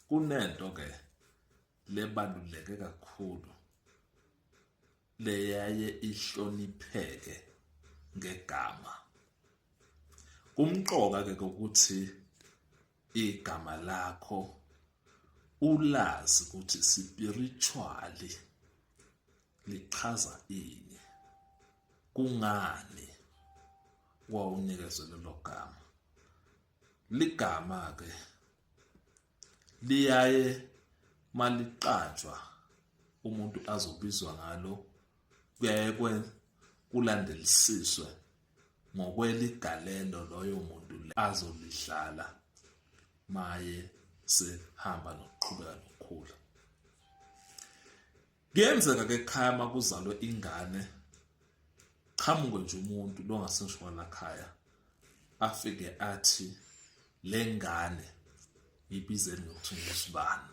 kunento ke lebaluleke kakhulu leyaye ihlonipheke ngegama kumqoka ke ukuthi igama lakho ulazi ukuthi spiritually lichaza ini kungani wawunikezwe lelo gama ligama ke liyaye maliqatshwa umuntu azobizwa ngalo kuyaye kulandelisiswe ngokweligalelo loyo muntu azolidlala maye sehamba nokuqhubeka nokukhula Kuyenzeka ke ekhaya uma kuzalwe ingane qhamuke nje umuntu longaseshwana khaya afike athi le ngane ibizeni ngokuthi ngusibani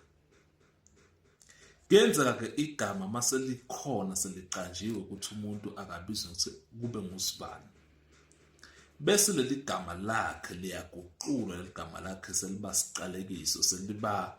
kuyenzeka ke igama uma selikhona seliqanjiwe ukuthi umuntu akabizwe ukuthi kube ngusibani bese leli gama lakhe liyaguqulwa leli gama lakhe seliba siqalekiso seliba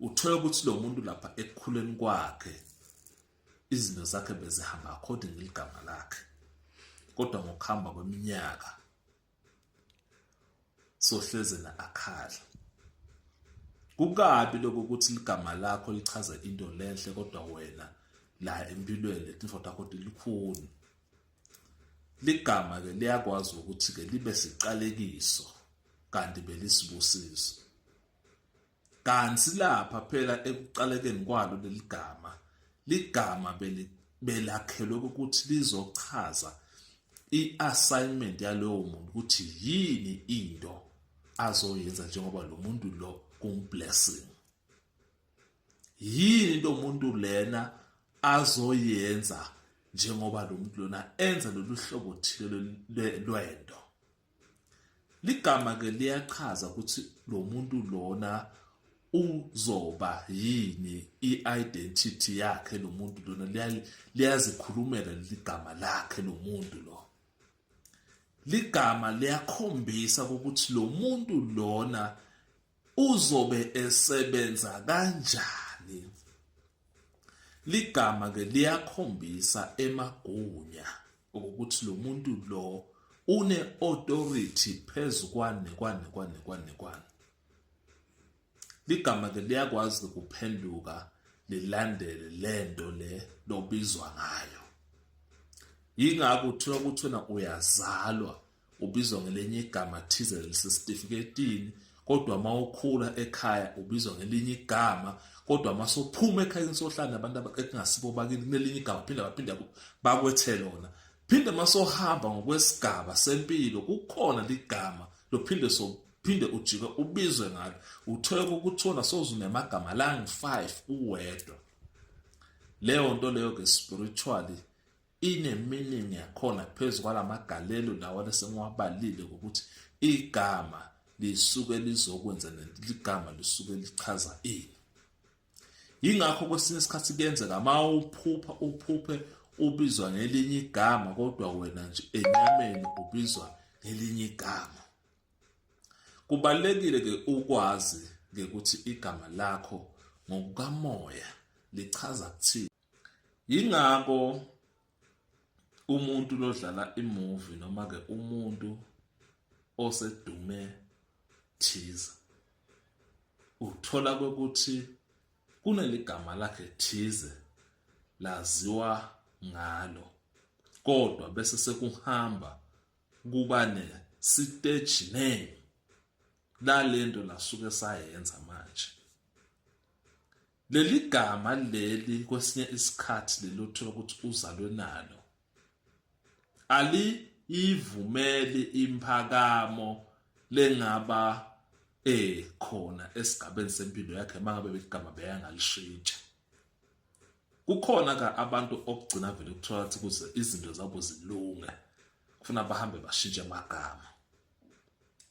uthole ukuthi lo muntu lapha ekukhuleni kwakhe izinto zakhe bezihamba according ligama lakhe kodwa ngokuhamba kweminyaka sohleze na akhala kukabi lokho ukuthi ligama lakho lichaza into lenhle kodwa wena la empilweni letinfo takho tilikhuni ligama ke liyakwazi ukuthi ke libe siqalekiso kanti belisibusiso Kanti silapha phela ekuqalekeni kwalo leli gama. Ligama belakhelwe ukuthi lizochaza i-assignment yalowo muntu ukuthi yini into azoyenza njengoba lo muntu lo kumblessing. Yini into umuntu lena azoyenza njengoba lo muntu lona enza lolu hlobo thile lwento. Ligama ke liyachaza ukuthi lo muntu lona uzoba yini i-identity yakhe lo muntu lona liyazikhulumela leli gama lakhe lo muntu lo ligama liyakhombisa ukuthi lo muntu lona Uzobe esebenza kanjani? Ligama ke liyakhombisa emagunya ukuthi lo muntu lo une authority phezu kwane kwane kwane kwane kwane ligama ke liyakwazi kuphenduka lilandele lento le lobizwa ngayo yingakho kuthiwa kuthina uyazalwa ubizwa ngelinye igama thize lisesitifiketini kodwa uma ukhula ekhaya ubizwa ngelinye igama kodwa uma sophuma ekhayeni sohlala abantu ekungasibo bakini kunelinye igama phinde baphinde bakwethe lona phinde uma sohamba ngokwesigaba sempilo kukhona ligama lophinde so phinde ujike ubizwe ngalo uthole ukuthola sozunemagama langi-5 uwedwa leyo nto leyo ke spiritually ineminingi yakhona phezu kwalamagalelo lawa lesengiwabalile ukuthi igama lisuke lizokwenza ligama lisuke lichaza ini yingakho kwesinye isikhathi kuyenzeka ma uphupha uphuphe ubizwa ngelinye igama kodwa wena nje enyameni ubizwa ngelinye igama kubalekile ke ukwazi ukuthi igama lakho ngokukamoya lichaza kuthini yingakho umuntu lodlala imovie noma ke umuntu osedume thiza uthola ukuthi kuneligama lakhe thize laziwa ngalo kodwa bese sekuhamba kuba ne stage name lalento lasuke sayenza manje Leli gama leli kwesinye isikhathi leli othola ukuthi uzalwe nalo aliyivumeli imphakamo lengaba eh khona esigabeni sempilo yakhe mangabe beligama beyangalishintsha kukhona ka abantu okugcina vele kuthola ukuthi kuze izinto zabo zilunge kufuna bahambe bashintshe amagama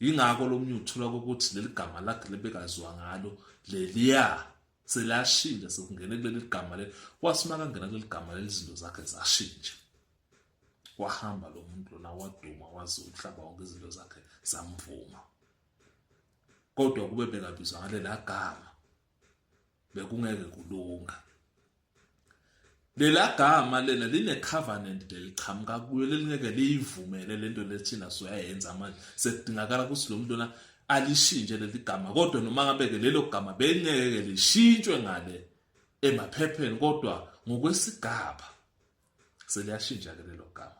yingakho lo mnye uthola ukuthi leli gama lakhe lebekazwa ngalo leliya selashintsha sekungene kuleli gama le kwasima kangena kuleli gama leli zinto zakhe zashintsha wahamba lo muntu lona waduma wazi umhlaba wonke izinto zakhe zamvuma kodwa kube bekabizwa ngalelagama bekungeke kulunga lela gama lena line covenant leliqhamuka kuyo lelingeke liyivumele lento lethina soyayenza manje sekudingakala ukuthi lo muntu na alishintshe leli gama kodwa noma ngabeke lelo gama bengeke lishintshwe ngale emaphepheni kodwa ngokwesigaba seliyashintsha ke lelo gama